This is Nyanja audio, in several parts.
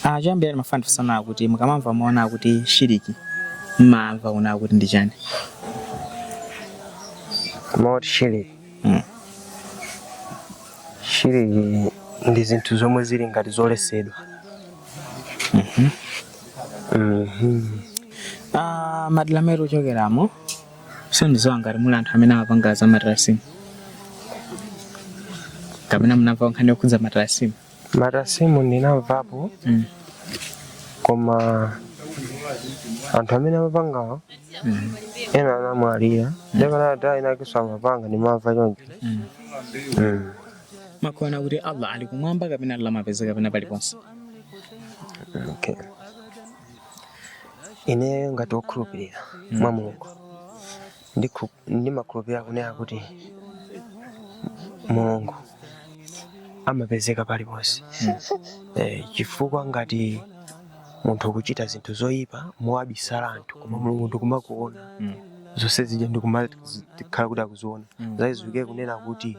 Ah, choyambira ndimafuna ndifunse kunena kuti mukamamva mawu onena kuti shiriki mmamva kunena kuti ndi chani mawu oti shiriki Mm. shiriki ndi zinthu zomwe zili ngati zolesedwa Mhm. Ah, madera amene mukuchokeramo sindiziwa ngati muli anthu amene amapanga za matarasimu kapena munamva nkhani yokhudza matarasimu Matarasimu ndinamvapo Mm. koma anthu amene amapangawo Mm. ena anamwalira ndipo anthu enaakeso amapanga ndimamva choncho Mm. Mm. mukuona kuti allah ali kumwamba kapena allah amapezeka pena paliponse Okay. ine ngati wokhulupirira mwa mulungu Ndikhu ndimakhulupirira kunena kuti Mulungu amapezeka paliponse eh, chifukwa ngati munthu ukuchita zinthu zoyipa mowabisala anthu koma Mulungu ndikumakuona zonse zija ndikumakhala kuti akuziona zachiziwikire kunena kuti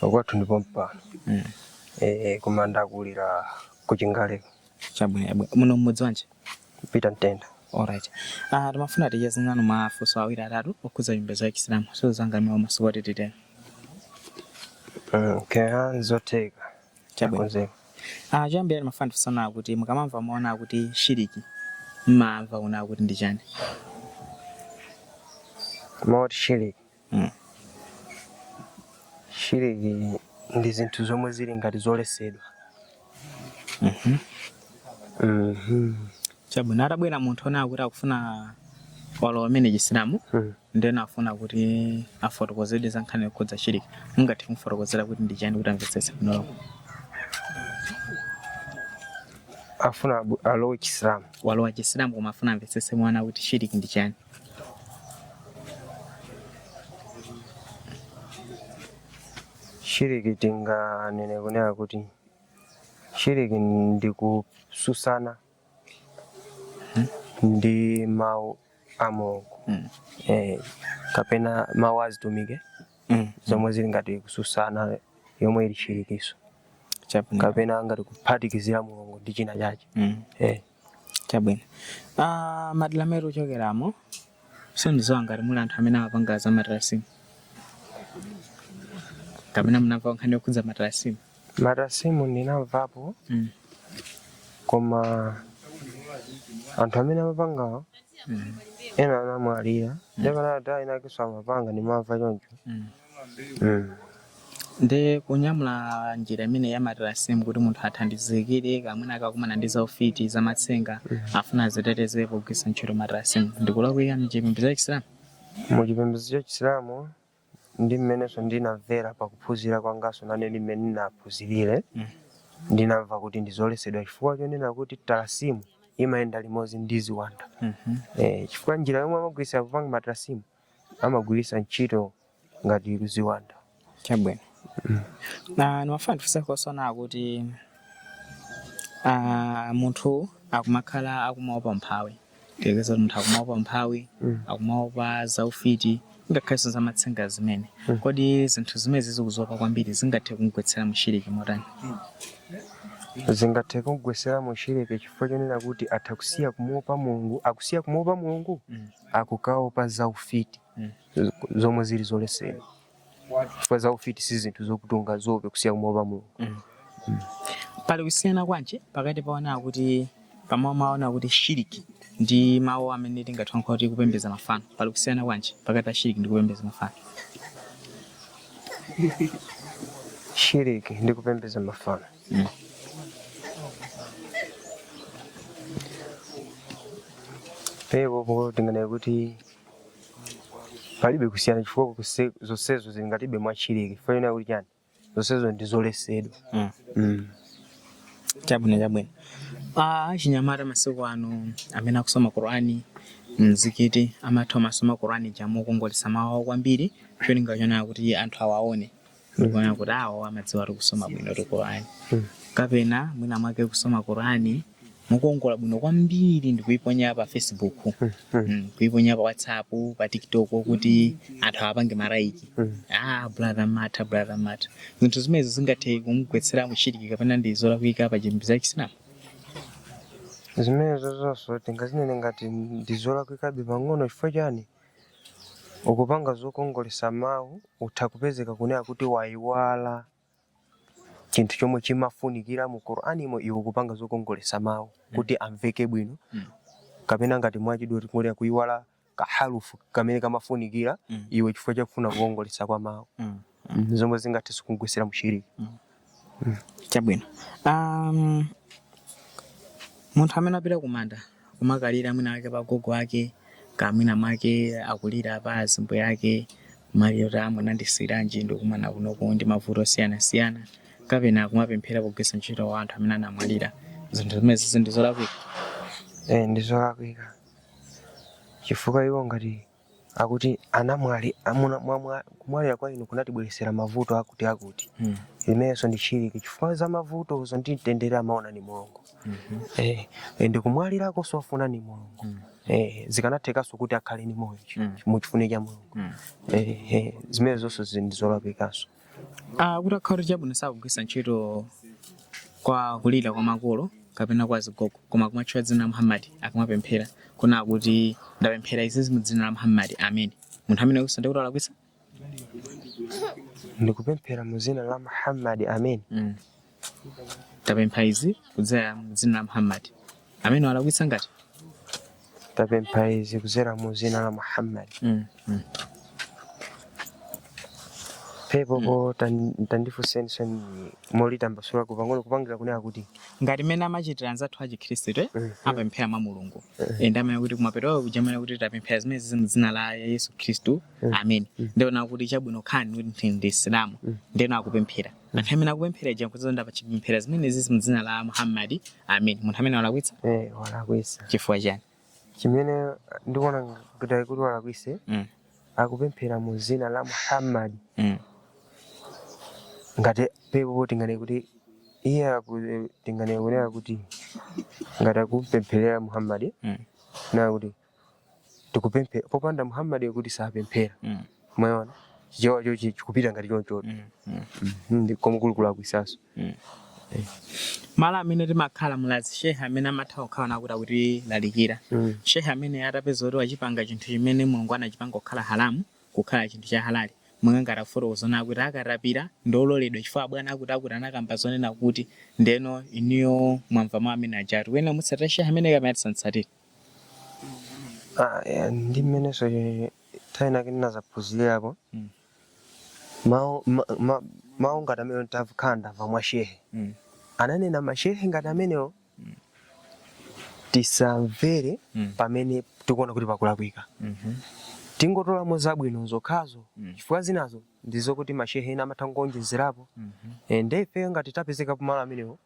Pakwathu ndi pompano. Mm. Eh, koma ndakulira ku Chingaleko. Chabwino chabwino. Muno mmudzi wanji? Peter Mtenda. Alright. Ah, timafuna ticheze nanu mafunso awiri atatu okhudza chipembedzo cha Chisilamu. Sindiziwa ngati muli omasuka kuti titero. Mm, kaya nzotheka. Chabwino. Chakonzeka. Ah, choyambira ndimafuna ndifunse kunena kuti mukamamva mawu onena kuti shiriki mmamva kunena kuti ndi chani? Mawu oti shiriki. shiriki ndi zinthu zomwe zili ngati zolesedwa. Chabwino, atabwera munthu onena kuti akufuna walowa kumene chisilamu ndeno mm. afuna kuti afotokozedwe za nkhani yokhudza shiriki mungathe kumfotokozera kuti ndi chani kuti amvetsetse bwino afuna alowe chisilamu walowa chisilamu koma afuna amvetsetse mawu onena kuti shiriki ndi chani shiriki tinganene kunena kuti shiriki ndi kususana ndi mawu a mulungu Mm. eh, kapena mawu azitumiki Mm. zomwe zili ngati kususana yomwe ili shirikiso Chabwino. kapena ngati kuphatikizira mulungu ndi china chache Mm. eh. Chabwino. Aaa madera amene mukuchokeramo sindidziwa ngati muli anthu amene amapanga za matrasimu kapena munamva nkhani yokhudza matrasimu. Matrasimu ndinamvapo Mm. koma anthu amene amapangawo Mm. ena anamwalira ndipo anthu enaakeso amapanga ndimamva choncho Mm. Ndi kunyamula njira imeneyi ya matalasimu kuti munthu athandizikire mwina akakumana ndi zaufiti, zamatsenga, afuna adzitetezere pogwiritsa ntchito matalasimu. Ndi kulakwika m'chipembedzo cha Chisilamu? Mu chipembedzo cha Chisilamu ndi mmenenso ndinamvera pa kuphunzira kwanganso nane ndi mmene ndinaphunzirire, ndinamva kuti ndi zoletsedwa chifukwa chonena kuti talasimu imayenda limodzi ndi ziwanda. Chifukwa njira yomwe amagwiritsira popanga matalasimu amagwiritsa ntchito ngati ziwanda. Chabwino. Na nimafuna ndifunsekonso ponena kuti ah, munthu akumakhala akumaopa umphawi tiyerekeze kuti munthu akumaopa umphawi Mm. akumaopa zaufiti ngakhalenso zamatsenga zimene Mm. kodi zinthu zimenezi akuziopa kwambiri zingathe kumgwetsera mushiriki motani Zingathe kumgwetsera mushiriki chifukwa chonena kuti atha kusiya kumuopa Mulungu, akusiya kumuopa Mulungu. Mm. nkukaopa za ufiti zomwe zili zolesedwa chifukwa za ufiti si zinthu zokuti ungaziope kusiya kumaopa mulungu pali kusiyana kwanji pakati ponena kuti pamwe mwaona kuti shiriki ndi mawu amene tingathe kulankhula kuti kupembedza mafano pali kusiyana kwanji pakati pa shiriki ndi kupembedza mafano shiriki ndi kupembedza mafano apapo tinganene kuti palibe kusiyana chifukwa kuse- zonsezo zili ngatibe mwa shiriki chifukwa chonena kuti chani zonsezo ndi zoletsedwa Mm. Mm. chabwino chabwino Ah, achinyamata masiku ano amati akusoma qurani mzikiti amatha kumasoma qurani ija mokongoletsa mawu awo kwambiri cholinga chonena kuti anthu awaone ndi kunena kuti awo amadziwatu kusoma bwinotu korani kapena mwina mwake kusoma korani mokongola bwino kwambiri ndikuiponya pa facebook Mm, kuiponya pa whatsapp pa tiktok kuti anthu apange malaiki ah brother mata brother mata zinthu zimenezo zingathe kumgwetsera mushiriki kapena ndi zolakwika pa chipembedzo cha chisilamu zimenezo zonso tingazinene ngati ndizolakwikabe pang'ono chifukwa chani Ukupanga zokongolesa mawu utha kupezeka kunena kuti wayiwala chinthu chomwe chimafunikira mu Qur'animo iwe kupanga zokongolesa mawu kuti amveke bwino kapena ngati mwachidule tikunena kuyiwala kaharufu kamene kamafunikira iwe chifukwa chakufuna kukongolesa kwa mawu. mm. zomwe zingathenso kumgwetsera mushiriki mm. mm. chabwino um, munthu amene apita kumanda kumakalira mwina mwake pagogo ake kaya mwina mwake akulira pa azibambo ake kumalira kuti munandisiyiranji ndikumana kunoku ndi mavuto osiyanasiyana kapena kumapemphera kugwiritsa ntchito wa anthu amene anamwalira zinthu zimenezi ndi zolakwika eh, ndi zolakwika chifukwa iwo ngati akuti anamwali amuna mwamwa kumwalira kwa inu kunatibweretsera mavuto akuti akuti mm. zimenezo ndi shiriki chifukwa za mavutozo ndi mtendere amaona ni mulungu mm -hmm. eh, ndi kumwalirako nzofuna ni mulungu mm. eh, zikanathekanso kuti akhale ni moyo mm. muchifuniro cha mulungu mm. eh, eh, zimene zonsezi ndizolakwikanso Ah, kuti akhale kuti chabwino sakugwisa ntchito kwa kulira kwa makolo kapena kwa zigogo koma kumatchula dzina la muhammadi akamapemphera kunena kuti ndapemphera izizi mu dzina la muhammadi ameni munthu amene akusa ndikuti alakwisa ndikupemphera mu dzina la muhammadi ameni mm. tapempha izi kudzera mu dzina la muhammad amene walakwitsa ngati tapempha izi kudzera mu dzina la muhammad mm. mm. penapo tandifunseninso molitambasula pang'ono kupangira kunena kuti ngati mmene amachitira anzathu achikhristu eh? mm-hmm. amapemphera mwa mulungu mm-hmm. nde amanena kuti kumapeto kuja amanena kuti tapemphera zimenezizi mu dzina la yesu khristu mm-hmm. amen ndiona kuti chabwino akhale kuti ndi msilamu ndiye akupemphera Munthu amene akupemphera uja nkudziwa ndapachipemphera zimenezizi mu dzina la Muhammad. Amen. Munthu ameneyo walakwitsa Eh, walakwisa. chifukwa chani? Chimene ndikuona kuti walakwisa Mm. akupemphera mu dzina la Muhammad Mm. ngati penapo tinganene kuti iye aku- tinganene kunena kuti ngati akupempherera Muhammad Mm. kunena kuti tikupemphera popanda muhammad kuti sapemphera Mm. mwaona chichewa chochi chikupita ngati chonchoto Mm. Mm. Mm, koma kuli kulakwisaso malo amene timakhala mulazi shehe amene amatha kukhala nakuti akutilalikira Mm. shehe ameneyo tapeza kuti wachipanga chinthu chimene mulungu anachipanga kukhala haramu kukhala chinthu cha halali mwina ngati afotokoza zoti katapira ndololedwa chifukwa abwana akuti akuti anakamba zonena kuti ndeno inuyo mwamva mawu amene ajatu timutsatire shehe ameneyo kapena tisamtsatire Ah, eh, ndi mmenenso eh, nthawi inake ndinazaphunzirako Mm. mawu ma- ma- mawu ngati amene ndakhala ndamva mwa mashehe Mm. ananena mashehe ngati amenewo tisamvere Mm. pamene tikuona kuti pakulakwika Mhm. tingotolamo zabwino zokhazo Mm. chifukwa zinazo ndizokuti mashehe ena amatha kuonjezerapo Mhm. Eh, nde ifeyo ngati tapezeka pamalo amenewo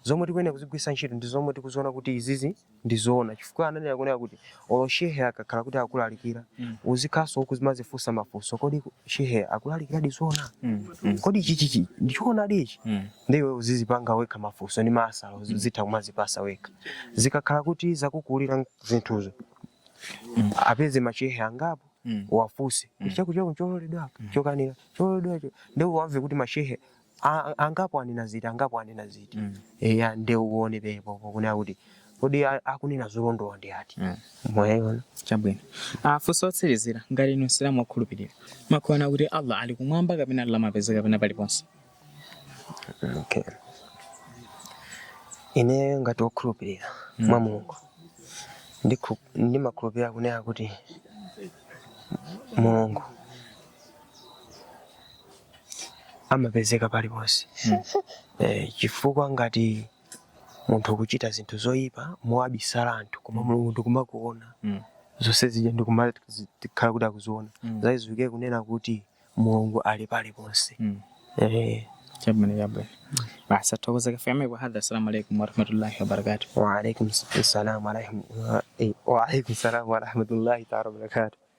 zomwe tikuyenera kuzigwisa ntchito ndi zomwe tikuziona kuti izizi ndi zoona chifukwa ananena kunena kuti olo shehe akakhala kuti akulalikira mm. uzithanso kumazifunsa mafunso kodi shehe akulalikiradi zoona mm. mm. kodi chichichi ndichoonadi ichi mm. ndiwe uzizipanga wekha mafunso ndi mayankho mm. uzitha kumazipasa wekha zikakhala kuti zakukulira zinthuzo mm. uwapeze mashehe angapo mm. uwafunse mm. chakuchoko chololedwa mm. chokanira chololedwacho ndiye uwamve kuti mashehe a- a- angapo anena ziti angapo anena ziti Mm. eya nde uone pepopo kunena kuti kodi a- akunena zolondola ndi ati Mm. mwayiona chabwino funso lotsirizira ngati inu msilamu wakhulupirira mumakhulupirira kuti allah ali kumwamba kapena ali lamapeza kapena paliponse okay. ineyo ngati wokhulupirira mwa mulungu ndikhu- ndimakhulupirira kunena kuti mulungu amapezeka paliponse eh, chifukwa ngati munthu ukuchita zinthu zoyipa mowabisala anthu koma mulungu ndikumakuona Mm. zonse zija ndikumakhala kuti akuziona Mm. zidziwike kunena kuti mulungu ali paliponse Mm. eh, chabwino chabwino basi tathokoza kafikeni kwa hadha assalamu alaikum warahmatullahi wabarakatu waalaikum salam warahma- wa- eh, waalaikum salam warahmatullahi taala wabarakatu